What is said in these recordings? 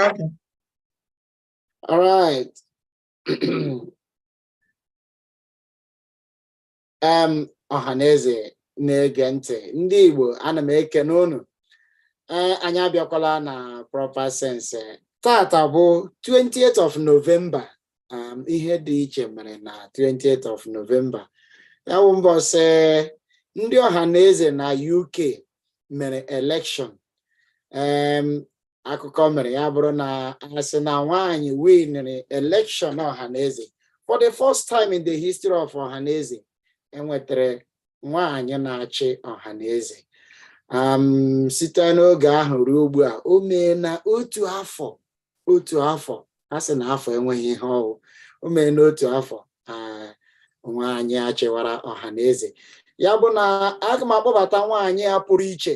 Okay. All right. um, ọhaneze na-ege ntị ndị Igbo ana m ekene ụnụ ee eh, anyị abịakwala na proper sense tata bụ 28th of November um, ihe dị iche mere na 28th of November ya bụ mbọsị ndị ọha na eze na UK mere elekshọn um, akụkọ mere ya bụrụ na asị na nwaanyị winere elekshọn ọha na eze for the first time in the history of ọha na eze enwetara nwaanyị na-achị ọha na eze um, site n'oge ahụ ruo ugbu a o meena otu afọ otu afọ a sị na afọ enweghị ihe ọ wụ o mere n'otu afọ nwaanyị achịwara ọha na eze ya bụ na aga m akpọbata nwaanyị a pụrụ iche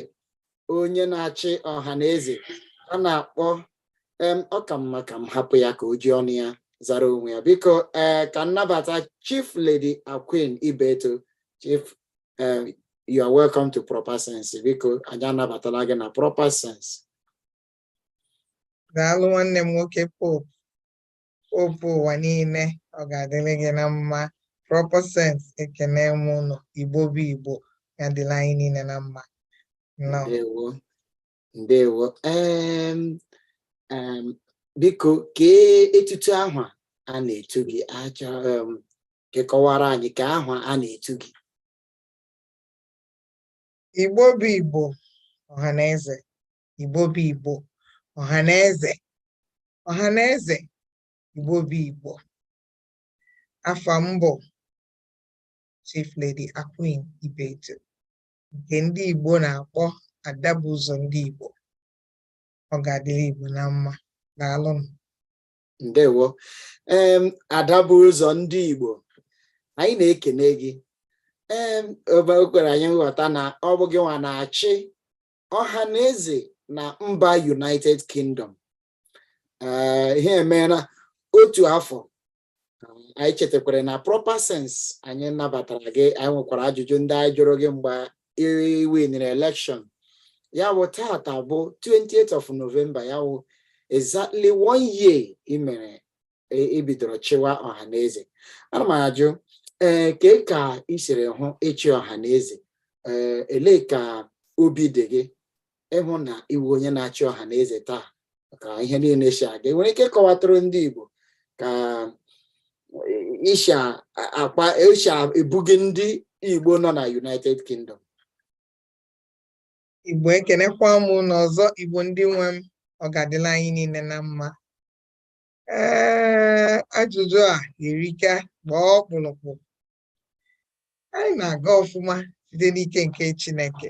onye na-achị ọha na eze a na-akpọ ọ ka mma ka m hapụ ya ka o ji ọnụ ya zara onwe ya biko ee ka m nabata chief lady Aqueen Ibeto chief you are welcome to proper sense biko anyị anabatala gị na proper sense daalụ nwanne m nwoke popu popu ụwa niile ọ ga-adịrị gị na mma proper sense ekene m ụnụ igbo bụ igbo ya dịlị anyị niile na mma ndewo ndewo biko kee etutu aha a na-etu gị a chọ ka ị kọwara anyị ka aha a na-etu gị igbo bụ igbo ọha na eze Igbo bụ Igbo ọha na eze ọha na eze Igbo bụ Igbo afa m bụ Chief Lady Aqueen Ibeto nke ndị Igbo na-akpọ ada bu ụzọ ndị Igbo ọ ga-adịrị Igbo na mma daalụnụ ndewo em ada bu ụzọ ndị Igbo anyị na-ekene gị ee o kwere anyị nghọta na ọ bụ gị nwa na-achị ọha na eze na mba united kingdom eh, ihe emeela otu afọ anyị chetakwara na proper sense anyị nabatara gị anyị nwekwara ajụjụ ndị anyị jụrụ gị mgbe i winere elekshọn ya bụ tata bụ 28th of november ya bụ exactly one year i mere i bidoro chịwa Ọhanaeze ana m ajụ ee eh, kee ka ị siri hụ ịchị Ọhanaeze ee eh, elee ka obi dị gị ịhụ na ị wụ onye na-achị Ọhanaeze taa ka ihe niile si aga i nwere ike ịkọwatụrụ ndị Igbo ka isha akpa isha ebughị ndị Igbo nọ na United Kingdom Igbo ekenekwa m ụnụ ọzọ Igbo ndị nwe m ọ ga-adịlị anyị niile na mma ee ajụjụ a erika gbaa ọkpụrụkpụ anyị na-aga ọfụma site n'ike nke Chineke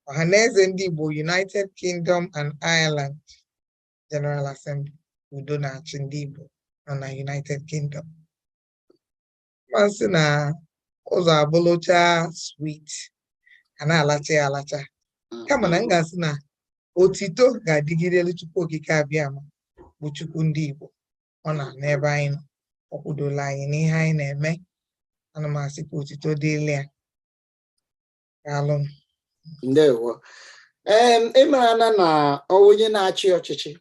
Ọhanaeze ndị Igbo United Kingdom and Ireland General Assembly udo na-achị ndị Igbo nọ na United Kingdom ma asị na ụzọ abụlụcha sweet a na-alacha ya alacha kama na m ga-asị na otito ga-adịgidelụ Chukwu Okike Abịama bụ Chukwu ndị Igbo ọ nọ n'ebe anyị nọ o kwudola anyị n'ihe anyị na-eme ana m asị ka otito dịlị ya daalụ ndewo ee ị marana na onye na-achị ọchịchị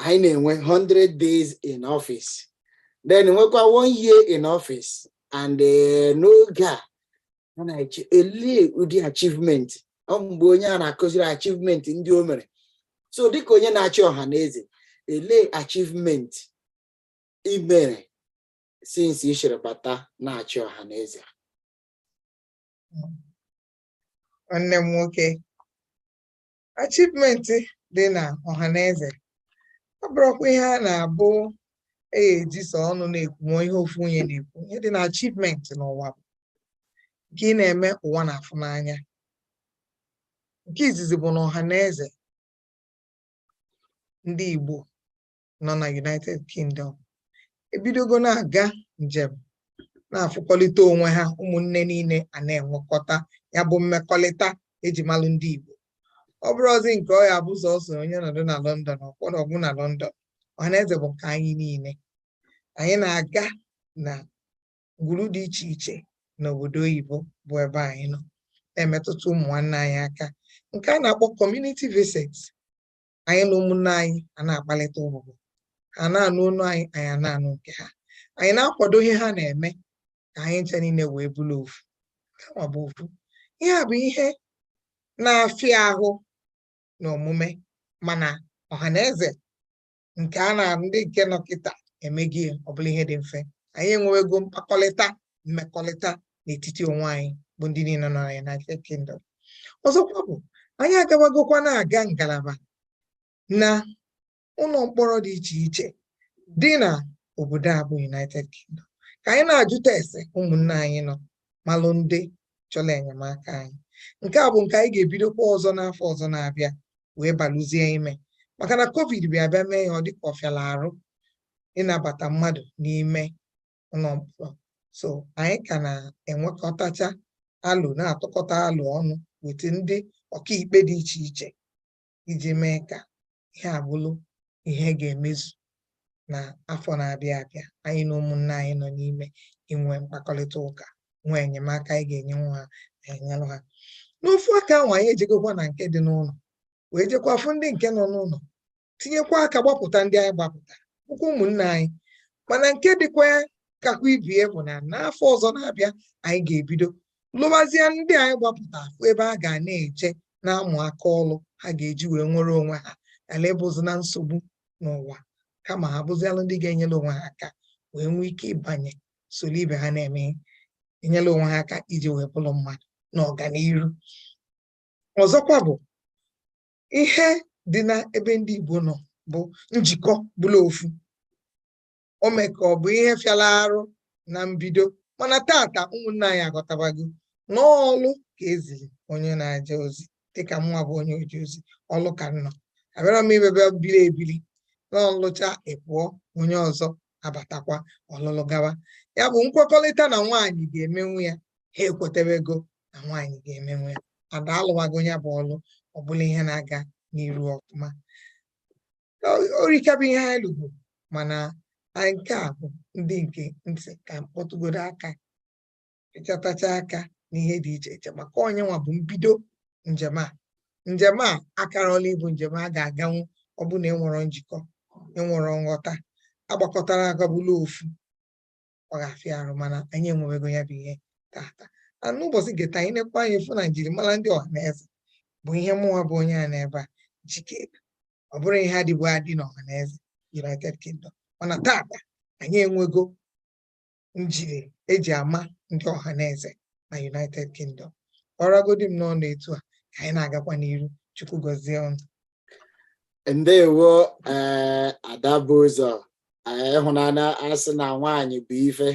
anyị na-enwe 100 days in office then nwekwa one year in office and eh, n'oge a a na-eche elee ụdị achievement ọ bụ mgbe onye a na-akụziri achievement ndị o mere so dịka onye na-achị Ọhanaeze elee achievement i mere since i shiri bata na-achị Ọhanaeze nwanne m nwoke achievement dị na Ọhanaeze abụrọkwa ihe a na-abụ ee e ji sọ ọnụ na-ekwu ma ihe ofu onye na-ekwu ihe dị na achievement n'ụwa bụ nke ị na-eme ụwa na-afụ n'anya nke izizi bụ na Ọhanaeze ndị Igbo nọ na United Kingdom ebidogo na-aga njem na-afụkọlịta onwe ha ụmụnne niile a na-enwekọta ya bụ mmekọlịta e ji malụ ndị Igbo ọ bụrọzi nke ọ ya-abụ sọsọ onye nọdụ na London ọkwọrọ ọgwụ na London Ọhanaeze bụ nke anyị niile anyị na-aga na ngwuru dị iche iche n'obodo oyibo bụ ebe anyị nọ na-emetụta ụmụ nwanne anyị aka nke a na-akpọ community visit anyị na ụmụnne anyị a na-akpalịta ụbụbọ ha na-anụ onu anyị anyị a na-anụ nke ha anyị na-akwado ihe ha na-eme ka anyị ncha niile wee bụrụ ofu kama bụ ofu ihe a bụ ihe na-afịa ahụ na omume mana Ọhanaeze nke a na ndị nke nọ kịta emego ya ọ bụlụ ihe dị mfe anyị enwewego mkpakọlịta mmekọlịta n'etiti onwe anyị bụ ndị niile nọ na United Kingdom ọzọkwa bụ anyị agawagokwa na-aga ngalaba na ụlọ mkpọrọ dị iche iche dị na obodo a bụ United Kingdom ka anyị na-ajụta ese ụmụnne anyị nọ malụ ndị chọrọ enyemaka anyị nke a bụ nke anyị ga-ebidokwa ọzọ n'afọ ọzọ na-abịa wee balụzie ime maka na covid bịa bịa mee ya ọ dịka ọ fịala arụ ịnabata mmadụ n'ime ụlọ mkpọrọ so anyị ka na-enwekọtacha alo na-atụkọta alo ọnụ wete ndị ọkaikpe dị iche iche iji mee ka ihe a bụlụ ihe ga-emezu na afọ na-abịa abịa anyị na ụmụnne anyị nọ n'ime inwe mkpakọrịta ụka nwee enyemaka anyị ga-enyenwu ha na-enyelụ ha n'ofu aka ahụ anyị ejegokwa na nke dị n'ụlọ wee jekwa fụ ndị nke nọ n'ụlọ tinyekwa aka gbapụta ndị anyị gbapụta bụkwa ụmụnne anyị mana nke dịkwa kakwa ibie bụ na n'afọ ọzọ na-abịa anyị ga-ebido lụbazie ndị anyị gbapụta afụ ebe ha ga na-eje na-amụ aka ọlụ ha ga-eji wee nwere onwe ha ghala ịbụzi na nsogbu n'ụwa kama ha bụzialụ ndị ga-enyere onwe ha aka wee nwee ike ịbanye soro ibe ha na-eme enyere onwe ha aka iji wee bụrụ mmadụ na ọganiru ọzọkwa bụ ihe dị na ebe ndị Igbo nọ bụ njikọ bụlụ ofu o mee ka ọ bụ ihe fịara arụ na mbido mana taata ụmụnne anyị aghọtabago na ọlụ ka e ziri onye na-eje ozi dịka mụnwa bụ onye oje ozi ọlụ ka m nọ abịarọ m imebe biri ebiri n'ị lụcha ị pụọ onye ọzọ abatakwa ọ lụlụ gawa ya bụ nkwekọrịta na nwaanyị ga-emenwu ya ha ekwetabego na nwaanyị ga-emenwu ya ada alụwago ya bụ ọlụ ọ bụlụ ihe na-aga n'iru ọfụma o rika bụ ihe anyị lụgo mana nke a bụ ndị nke m sị ka m kpọtụgodo aka ịchọtacha aka n'ihe dị iche iche maka ọ nyanwa bụ mbido njem a njem a akarọla ịbụ njem a ga-aganwu ọ bụ na enwerọ njikọ enwerọ nghọta agbakọtarọ aka bụlụ ofu ọ ga-afịa arụ mana anyị enwewego ya bụ ihe taata na n'ụbọchị nke taa anyị nekwa anya fụ na njirimara ndị Ọhanaeze bụ ihe mụnwa bụ onye a n'ebe a jike ọ bụrọ ihe dịbu adị na Ọhanaeze United Kingdom mana taata anyị enwego njiri e ji ama ndị Ọhanaeze na United Kingdom ọ ragodi m n'ọnụ etu a ka anyị na-agakwa n'iru Chukwu gọzie unu ndewo eh, ada bu ụzọ eh, ị hụ na a na-asị na nwaanyị bụ ife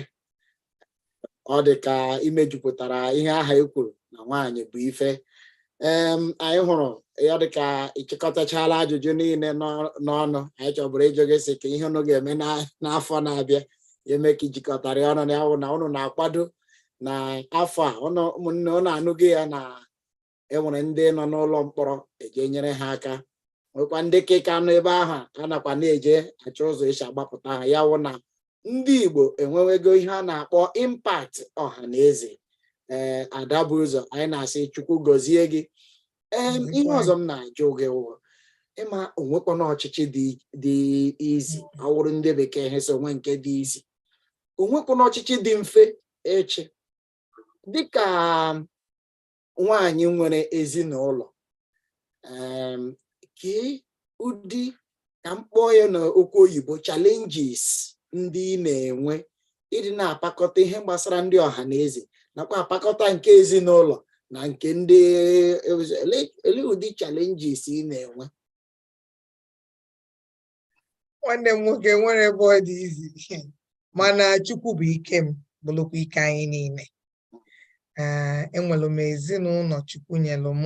ọ dị ka i mejupụtara ihe ahụ e kwuru na nwaanyị bụ ife anyị hụrụ ya dịka ịchịkọtachala ajụjụ niile n'ọnụ anyị chọburu ịjụ gị sị kee ihe unu ga-eme n'afọ na-abịa eme ka ijikọtara ọnụ ya wụ na unu na-akwado na afọ a ụmụnne unu anụghị ya na enwere ndị nọ n'ụlọ mkpọrọ eje nyere ha aka nwekwa ndị ke ka nọ ebe ahụ a nakwa na-eje achọ ụzọ esi agbapụta ha ya wụ na ndị Igbo enwewego ihe a na-akpọ impact ọha na eze ee eh, ada bu ụzọ anyị na-asị Chukwu gọzie gị ee ihe ọzọ m na-ajụ gị wụ ị ma o nwekwanụ ọchịchị dị easy ọ wụrụ ndị bekee ha sị o nwe nke dị easy o nwekwanụ ọchịchị dị mfe ịchị dịka nwaanyị nwere ezinụlọ kee ụdị ka m kpọọ ya n'okwu oyibo challenges ndị ị na-enwe ịdị na-apakọta ihe gbasara ndị ọha na eze nakwa apakọta nke ezinụlọ na nke ndị elee ụdị challenges ị na-enwe nwanne m nwoke o nwerọ ebe ọ dị easy mana chukwu bụ ike m bụlụkwa ike anyị niile ee enwelụ m ezinụlọ chukwu nyelụ m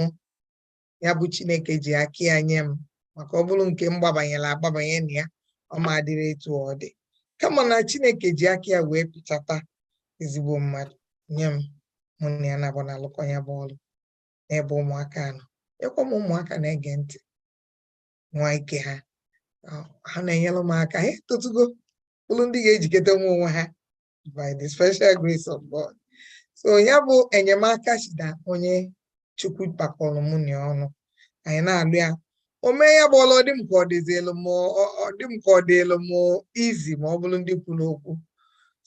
ya bụ chineke ji aka ya nye m maka ọ bụrụ nke m gbabanyere agbabanye na ya ọ ma dịrị etu ọ dị kama na chineke ji aka ya wee pịchata ezigbo mmadụ nye m mụ na ya naabọ na-alụkọ ya bụ ọrụ n'ebe ụmụaka nọ ekwe m ụmụaka na-ege ntị nwa ike ha ha na-enyere m aka ha etotugo bụlụ ndị ga-ejikọtanwu onwe ha by the special grace of God so ya bụ enyemaka si na onye chukwu kpakọrọ mụ na ya ọnụ anyị na-alụ ya o mee ya bụ ọlụ ọ dị m ka ọ dịzielu m ọ dị m ka ọ dịelu m easy ma ọ bụrụ ndị kwuru okwu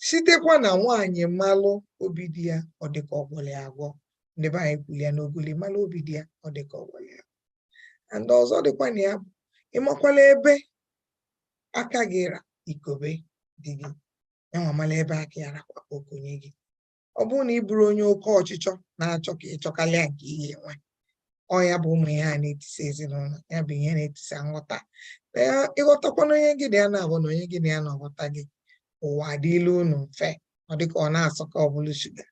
sitekwa na nwaanyị malụ obi di ya ọ dị ka ọ gwọlụ ya agwọ ndị be anyị kwuru ya n'ogoli malụ obi di ya ọ dị ka ọ gwọlụ ya agwọ and ọzọ dịkwa na ya bụ ịmakwala ebe aka gị ra i kobe di gị yanwa mala ebe aka ya rakwa o konye gị ọ bụrụ na ị bụrụ onye oke ọchịchọ na-achọ ka ịchọkalịa nke ihe e nwe ọ ya bụ ụmụ ihe a na-etisa ezinụlọ ya bụ ihe na-etisa nghọta ị ghọtakwanụ onye gị na ya naabọ na onye gị na ya na-aghọta gị ụwa adịlị unu mfe ọ dịka ọ na-asọ ka ọ bụlụ shuga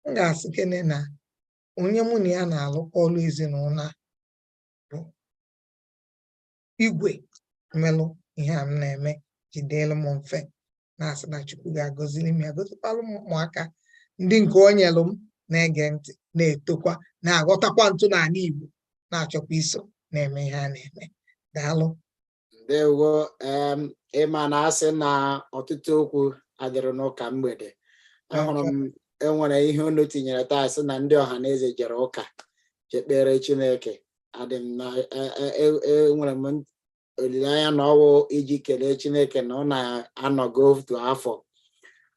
m ga-asị kene na onye mụ na ya na-alụkọ ọlụ ezinụlọ bụ igwe melụ ihe a m na-eme ji dịlụ m mfe na-asị na Chukwu ga-agọziri m ya gọzikwalụ m ụmụaka ndị nke o nyelụ m na-ege ntị na-etokwa na-aghọtakwa ntọnala Igbo na-achọkwa iso na-eme ihe a na-eme daalụ ndewo em ị ma na a sị na ọtụtụ okwu adịrị n'ụka mgbede ahụrụ m e nwere ihe unu tinyere taa sị na ndị Ọhanaeze jere ụka je kpere Chineke adị m na e- e- e- enwere m olileanya na ọwụ iji kelee Chineke na unu anọgo otu afọ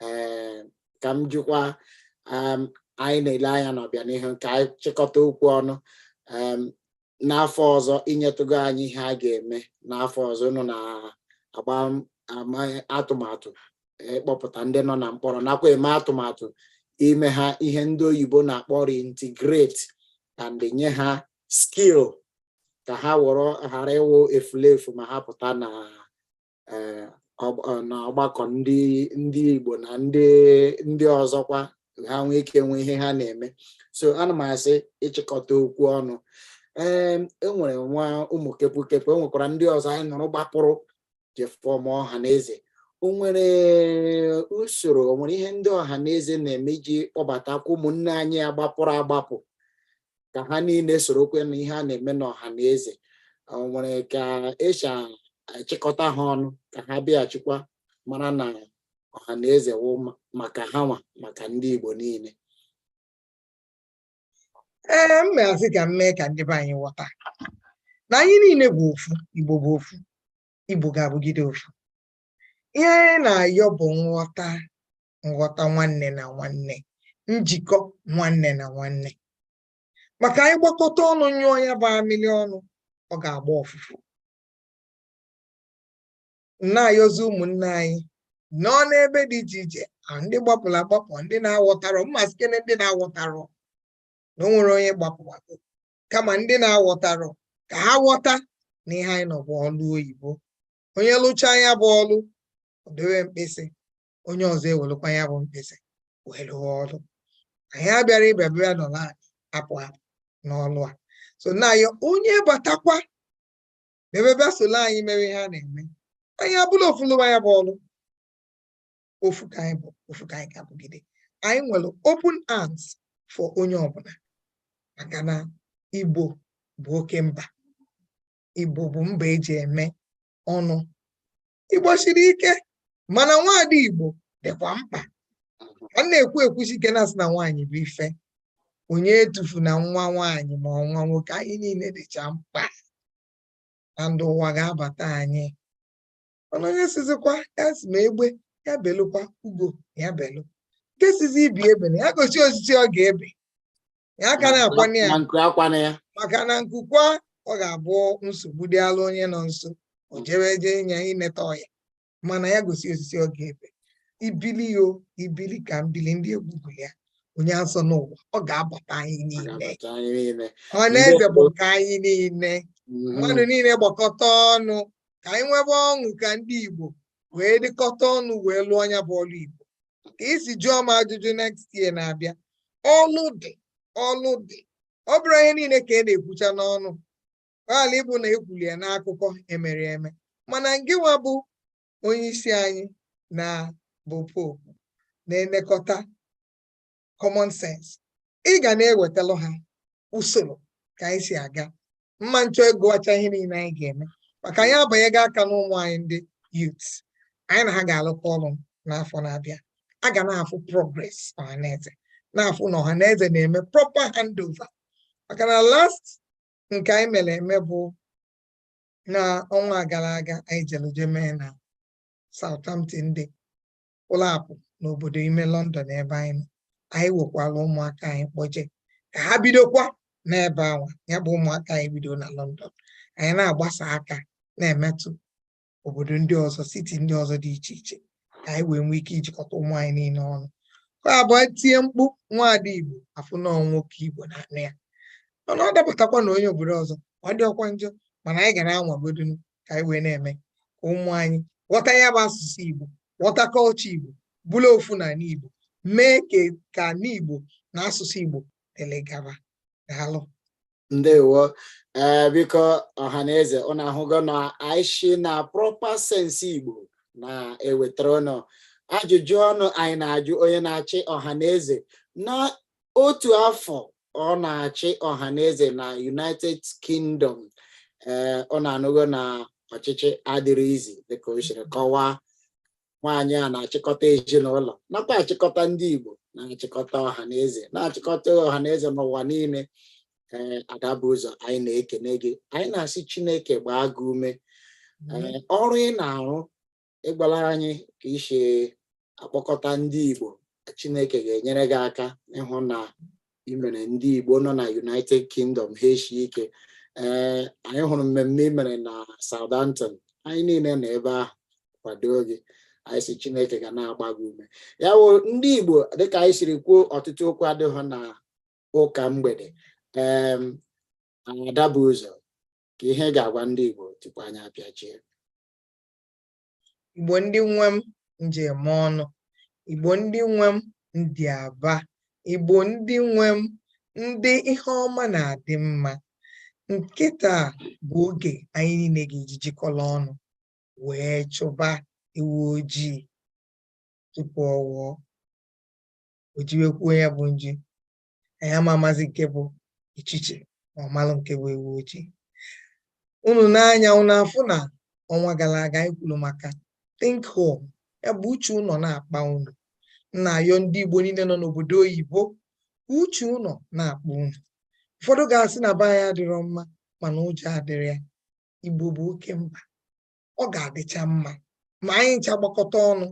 ee ka m jụkwa em, anyị na-ele anya n'ọbịanihu ka anyị chịkọta okwu ọnụ em, n'afọ ọzọ i nyetụgo anyị ihe a ga-eme n'afọ ọzọ unu na-agba atụmatụ ịkpọpụta e, ndị nọ na mkpọrọ nakwa eme atụmatụ ime ha ihe ndị oyibo na-akpọ reintegrate and nye ha skill ka ha wụrụ ghara ịwụ efulefu ma ha pụta na eh, eh, na ọgbakọ ndị ndị Igbo na ndị ndị ọzọkwa ha nwee ike enwe ihe ha na-eme so ana m asị ịchịkọta okwu ọnụ ee e nwere nwa ụmụ kepụkepụ e nwekwara ndị ọzọ anyị nụrụ gbapụrụ je form Ọhanaeze o nwere usoro o nwere ihe ndị Ọhanaeze na-eme iji kpọbatakwa ụmụnne anyị agbapụrụ agbapụ ka ha niile sorokwe na ihe a na-eme n'Ọhanaeze o nwere ka e si achịkọta ha ọnụ ka ha bịaghachikwa mara na Ọhanaeze wụ ma- maka ha nwa maka ndị Igbo niile ee m na-asị ka m mee ka ndị be anyị ghọta na anyị niile bụ ofu Igbo bụ ofu Igbo ga-abụgide ofu ihe anyị na-ayọ bụ nghọta nghọta nwanne na nwanne njikọ nwanne na nwanne maka anyị gbakọta ọnụ nyụọ ya bụ amịlị ọnụ ọ ga-agba ọfụfụ na-ayọzi ụmụnne anyị nọ n'ebe dị iche iche ndị gbapụrụ agbapụ ndị na-aghọtarọ m ma sịkene ndị na-aghọtarọ na o nwerọ onye gbapụwago kama ndị na-aghọtarọ ka ha ghọta na ihe anyị nọ bụ ọlụ oyibo onye lụchaa ya bụ ọlụ o dewe mkpịsị onye ọzọ ewelụkwa ya bụ mkpịsị wee lụọ ọlụ anyị abịara ịbịa bịa nọ na apụ apụ n'ọlụ a so na ya onye batakwa ebe bịa solo anyị mere ihe a na-eme anyị abụla ofu lụwa ya bụ ọlụ ofu ka anyị bụ ofu ka anyị ga-abụgide anyị nwere open arms for onye ọbụla maka na Igbo bụ oke mba Igbo bụ mba e ji eme ọnụ Igbo siri ike mana nwaada Igbo dịkwa mkpa a na-ekwu ekwusi ike na a sị na nwaanyị bụ ife onye etufuna nwa nwaanyị ma ọ nwa nwoke anyị niile dịcha mkpa na ndụ ụwa ga-abata anyị mana onye sịzịkwa ya sị ma egbe ya belụkwa ugo ya belụ nke sịzị ibe ya ebena ya gosi osisi ọ ga-ebe ya aka na-akwana ya maka na nku kwaa ọ ga-abụ nsogbu dịalụ onye nọ nso o jewe eje ịnya ineta ọya mana ya gosi osisi ọ ga-ebe ibili yo ibili ka m bili ndị egwu gụọ ya onye azọna ụwa ọ ga-abata anyị niile ọhaneze bụ nke anyị niile mm-hmm. mmadụ niile gbakọta ọnụ ka anyị nwebe ọṅụ ka ndị Igbo wee dịkọta ọnụ wee lụọ nya bụ ọlụ Igbo ka i si jụọ m ajụjụ next year na-abịa ọlụ dị ọlụ dị ọ bụrọ ihe niile ka a na-ekwucha n'ọnụ ghala ịbụ na ekwuli ya n'akụkọ emere eme mana ngịnwa bụ onye isi anyị na bụ popu na-elekọta common sense ị ga na-ewetalụ ha usoro ka anyị si aga mma nchọ ịgwacha ihe niile anyị ga-eme maka anyị abanyego aka n'ụmụ anyị ndị youth anyị na ha ga-alụkọ ọrụ n'afọ na-abịa a ga na-afụ progress ọhaneze na-afụ na ọhaneze na-eme proper handover maka na last nke anyị mere eme bụ na ọnwa gara aga anyị jeluje mee na Southampton dị ụlọ apụ n'obodo ime London ebe anyị nọ anyị wekwara ụmụaka anyị kpọje ka ha bidokwa n'ebe anwa ya bụ ụmụaka anyị bido na London anyị na-agbasa aka na-emetụ obodo ndị ọzọ city ndị ọzọ dị iche iche ka anyị wee nwee ike ijikọta ụmụ anyị niile ọnụ ka ọ bụrụ e tie mkpu nwaada Igbo a fụ na nwoke Igbo na-anụ ya mana ọ dapụtakwa na onye obodo ọzọ ọ dịrọkwa njọ mana anyị ga na-anwagodu ka anyị wee na-eme ka ụmụ anyị ghọta ya bụ asụsụ Igbo ghọta culture Igbo bụlụ ofu na ala Igbo mee ka ala Igbo na asụsụ Igbo dịlị gaba daalụ ndewo ee eh, biko ọha na eze ụnụ ahụgo na anyị shi na proper sense Igbo na-ewetara ụnụ ajụjụ ọnụ anyị na-ajụ onye na-achị ọha na eze na otu afọ ọ na-achị ọha na eze na united kingdom ee ụnụ anụgo na ọchịchị adịrị easy dịka o siri kọwaa nwaanyị a na-achịkọta ezinụlọ nakwa achịkọta ndị igbo na-achịkọta ọha na eze na-achịkọta ọha na eze n'ụwa niile ee ada bu ụzọ anyị na-ekene gị anyị na-asị chineke gbaa gị ume ee ọrụ ị na-arụ ịgwala anyị ka e si akpọkọta ndị Igbo Chineke ga-enyere gị aka ịhụ na i mere ndị Igbo nọ na United Kingdom ha eshie ike ee anyị hụrụ mmemme i mere na Southampton anyị niile nọ ebe a kwado gị anyị sị Chineke ga na-agba gị ume ya bụ ndị Igbo dịka anyị siri kwuo ọtụtụ okwu adịghị na ụka mgbede ee ada bu ụzọ kee ihe ị ga-agwa ndị Igbo tupu anyị apịachie Igbo ndị nwe m nji eme ọnụ Igbo ndị nwe m ndị aba Igbo ndị nwe m ndị ihe ọma na-adị mma kịta bụ oge anyị niile ga-eji jikọrọ ọnụ wee chụba ewu ojii tupu ụwa ejiwekwuo ya bụ nji anyị ama amazi nke bụ ọchịchị ma ọmalụ nke bụ ewu ojii unu n'anya unu afụ na ọnwa gara aga anyị kwuru maka think home ya bụ uche ụnọ na-akpa unu na-ayọ ndị Igbo niile nọ n'obodo oyibo uche ụnọ na-akpa unu ụfọdụ ga-asị na be anyị adịrọ mma mana ụjọ adịrọ ya Igbo bụ oke mba ọ ga-adịcha mma ma anyị ncha gbakọta ọnụ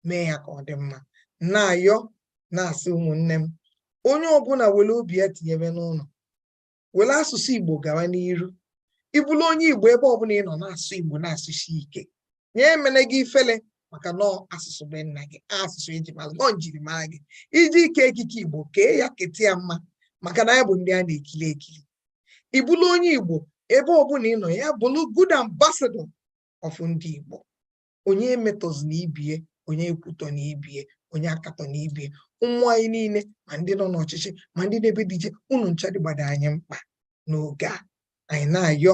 mee ya ka ọ dị mma na-ayọ na-asị ụmụnne m onye ọbụla were obi ya tinyebe n'ụlọ were asụsụ Igbo gawa n'iru ị bụlụ onye Igbo ebe ọbụla ị nọ na-asụ Igbo na-asụsi ike nya emene gị ifele maka na ọ asụsụ be nna gị asụsụ eji mara gị njirimara gị iji eke ekike igbo kee ya keta ya mma maka na anyị bụ ndị a na-ekiri ekiri ị bụrụ onye igbo ebe ọbụla ị nọ ya bụrụ good ambassador of ndị igbo onye emetọzina ibie onye ekwutọna ibie onye akatọna ibie ụmụ anyị niile ma ndị nọ n'ọchịchị ma ndị nọ ebe dị iche unu ncha dịgbado anyị mkpa n'oge a anyị na-ayọ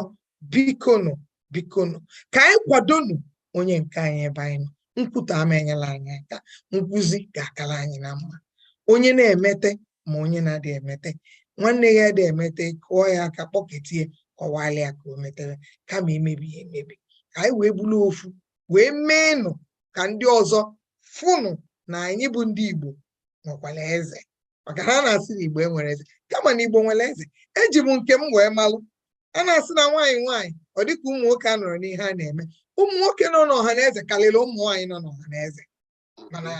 bikonu bikonu ka anyị kwadonu onye nke anyị ebe anyị nọ nkwutọ ama enyela anyị aka nkwuzi ga-akara anyị na mma onye na-emete ma onye na-adị emete nwanne gị adị emete kụọ ya aka kpọketie kọwalị ya ka o metere kama imebi ya emebi ka anyị wee bụrụ ofu wee meenụ ka ndị ọzọ fụnụ na anyị bụ ndị Igbo nwekwara eze maka ha na-asị na igbo enwerọ eze kama na igbo nwere eze eji m nke m wee malụ a na-asị na nwaanyị nwaanyị ọ dịka ụmụ nwoke anọrọ n'ihe a na-eme ụmụ nwoke nọ n'ọha na eze karịrị ụmụ nwaanyị nọ n'ọha na eze mana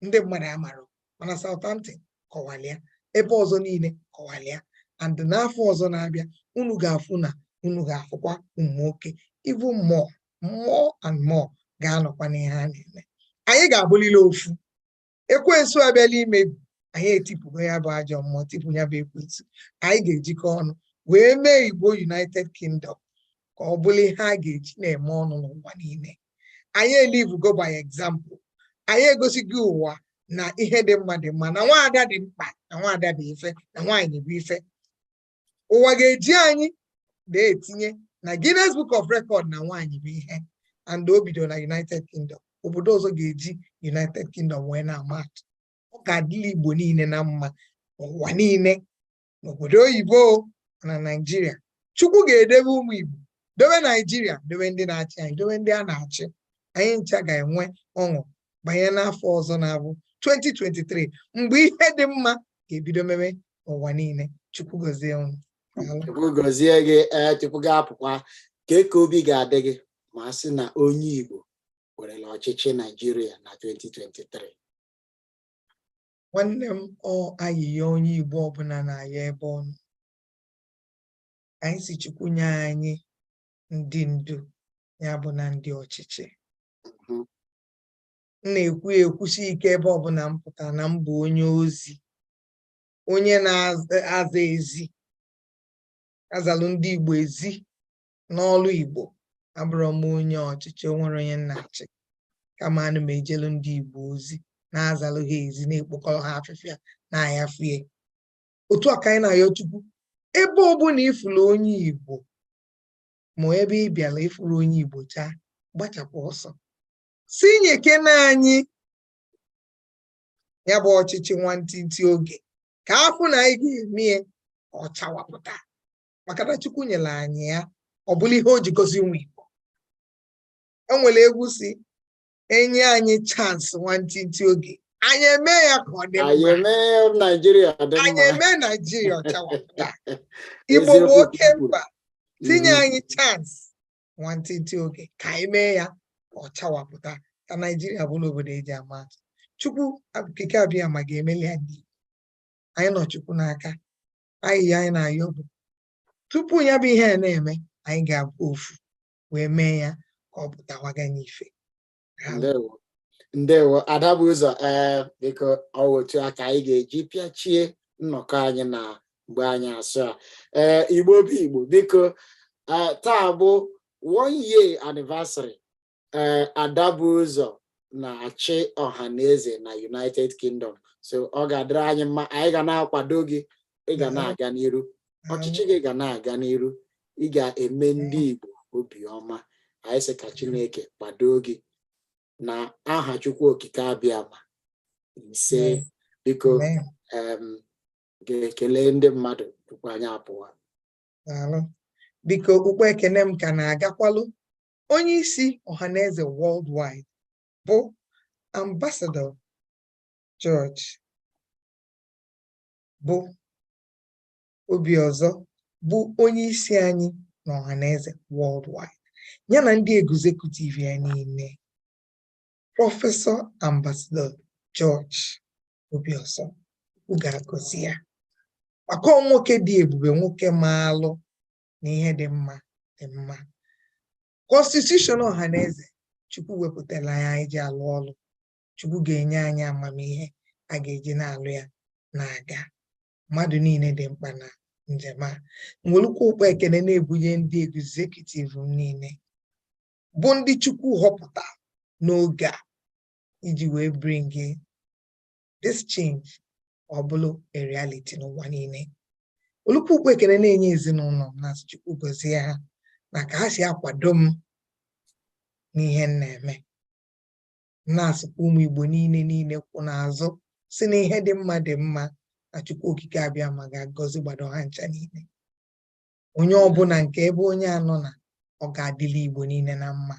ndị mmadụ amarọ mana Southampton kọwalịa ebe ọzọ niile kọwalịa and n'afọ ọzọ na-abịa unu ga-afụ na unu ga-afụkwa ụmụ nwoke even more more and more ga-anọkwa n'ihe a na-eme anyị ga-abụlịlị ofu ekwensu abịala imebi anyị etipụgo ya bụ ajọ mmụọ tipụ ya bụ ekwensu anyị ga-ejikọ ọnụ wee mee igbo united kingdom ka ọ bụrụ ihe a ga-eji na-eme ọnụ n'ụwa niile anyị elivugo by example anyị egosigo ụwa na ihe dị mma dị mma na nwaada dị mkpa na nwaada dị ife na nwaanyị bụ ife ụwa ga-eji anyị na-etinye na Guinness Book of Record na nwaanyị bụ ihe and o bido na United Kingdom obodo ọzọ ga-eji United Kingdom wee na-ama atụ ọ ga-adịlị Igbo niile na mma ụwa niile n'obodo oyibo na Naịjirịa Chukwu ga-edebe ụmụ Igbo dowe naijiria dowe ndị na-achị anyị dowe ndị a na-achị anyị ncha ga-enwe ọṅụ banye n'afọ ọzọ na-abụ 2023 mgbe ihe dị mma ga-ebido mebe ụwa niile chukwu gozie ụnụ chukwu gozie gị ee chukwu ga-apụkwa ka eke obi ga-adị gị ma a sị na onye igbo nwerela ọchịchị naijiria na 2023 nwanne m ọ ayịyọ onye igbo ọbụla na-ayọ ebe ọ nọ anyị sị Chukwu nye anyị ndị ndu ya bụ na ndị ọchịchị m na-ekwu ekwusi ike ebe ọbụla m pụta na m bụ onye ozi onye na-aza ezi azalụ ndị Igbo ezi n'ọlụ Igbo abụrọ m onye ọchịchị o nwerọ onye m na-achị kama ana m ejelu ndị Igbo ozi na-azalụ ha ezi na-ekpokọrọ ha afịfịa na-ayafie otu a ka anyị na-ayọ Chukwu ebe ọbụla ị fụrụ onye Igbo ma ebe ị bịara ị fụrụ onye Igbo chaa gbachapụ ọsọ sị nyekene anyị ya bụ ọchịchị nwantịntị oge ka a fụ na anyị ga-eme ya ọ chawapụta maka na Chukwu nyere anyị ya ọ bụlụ ihe o ji gọzie ụmụ Igbo enwere egwu sị e nye anyị chance nwantịntị oge anyị eme ya ka ọ dị mma anyị eme naijiria ọ chawapụta igbo bụ oke mba tinye mm-hmm. anyị chance nwantịntị oge ka anyị mee ya ka ọ chawapụta ka naijiria bụrụ obodo e ji ama atụ chukwu okike abịama ga-emeli ya anyị nọ chukwu n'aka ayịyọ anyị na-ayọ bụ tupu ya bụ ihe a na-eme anyị ga-abụ ofu wee mee ya ka ọ pụtawaga n'ife ndewo ada bu ụzọ ee eh, biko ọ wụ otu a ka anyị ga-eji pịachie nnọkọ anyị na mgbe anyasị a ee eh, igbo bụ igbo biko eh, taa bụ one year anniversary ee ada bu ụzọ na-achị ọhaneze na united kingdom so ọ ga-adịrị anyị mma anyị ga na-akwado gị ị ga na-aga n'iru ọchịchị gị ga na-aga n'iru ị ga-eme ndị Igbo obiọma anyị sị ka Chineke kwado gị na aha Chukwu Okike abịama isee biko ga-ekele ndị mmadụ tupu anyị apụwa biko okpukpu ekene m ka na-agakwalụ onye isi ọhaneze worldwide bụ ambasadọ George Obi Obiọzọ bụ onye isi anyị na Ọhaneze worldwide ya na ndị egzekutiv ya niile prọfesọ ambasadọ George Obiọzọ Chukwu ga-agọzi ya maka ọ nwoke dị ebube nwoke maalụ na ihe dị mma dị mma kọnstitushọn Ọhaneze Chukwu wepụtara anyị ji alụ ọlụ Chukwu ga-enye anyị amamihe a ga-eji na-alụ ya na-aga mmadụ niile dị mkpa na njem a m welukwu ụkpọ ekene na-ebunye ndị egzekutiv m niile bụ ndị Chukwu họpụta n'oge a iji wee bring this change ọ bụlụ a reality n'ụwa niile welukwu ụkpọ ekene na-enye ezinụnọ m na-asị Chukwu gọzie ha na ka ha si akwado m n'ihe m na-eme na-asịkwa ụmụ Igbo niile niile kwụ n'azụ si na ihe dị mma dị mma na Chukwu Okike Abịama ga-agọzigbado ha ncha niile onye ọbụna nke ebe onye a nọ na ọ ga-adịlị Igbo niile na mma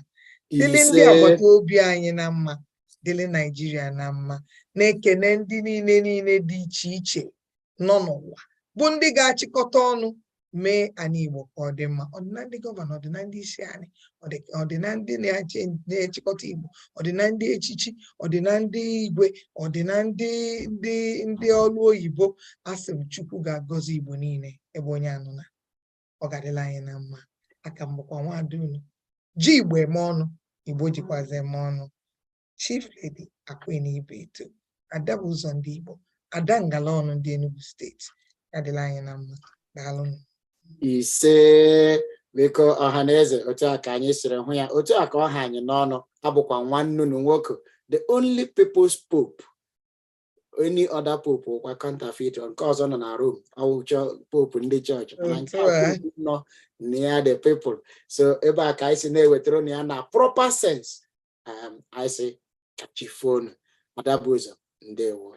dịlị ndị agbata obi anyị na mma dịlị Naijiria na mma na-ekene ndị niile niile dị iche iche nọ n'ụwa bụ ndị ga-achịkọta ọnụ mee anị Igbo ka ọ dị mma ọ dị na ndị gọvanọ ọ dị na ndị isi anị ọ dị na ndị na-achịkọta Igbo ọ dị na ndị echichi ọ dị na ndị igwe ọ dị na ndị ndị ndị ọlụ oyibo asị m Chukwu ga-agọzi Igbo niile ebe onye a nọ na ọ ga-adịlị anyị na mma aka m bụkwa nwaada unu ji Igbo eme ọnụ Igbo jikwazi eme ọnụ Chief Lady Aqueen Ibeto ada bu ụzọ ndị Igbo ada ngala ọnụ ndị Enugu steeti ya dịlị anyị na mma daalụ ise biko ọha na eze otu a ka anyị siri hụ ya otu a ka ọ ha anyị n'ọnụ abụkwa nwanne unu nwoke the only people's pope any other pope wụkwa counterfeit nke ọzọ nọ na Rome ọ wụ chọ pope ndị chọọchị mana nke nọ na ya the people so ebe a ka anyị si na-ewetara unu ya na proper sense um, anyị sị ka chi fo nụ ada bu ụzọ ndewo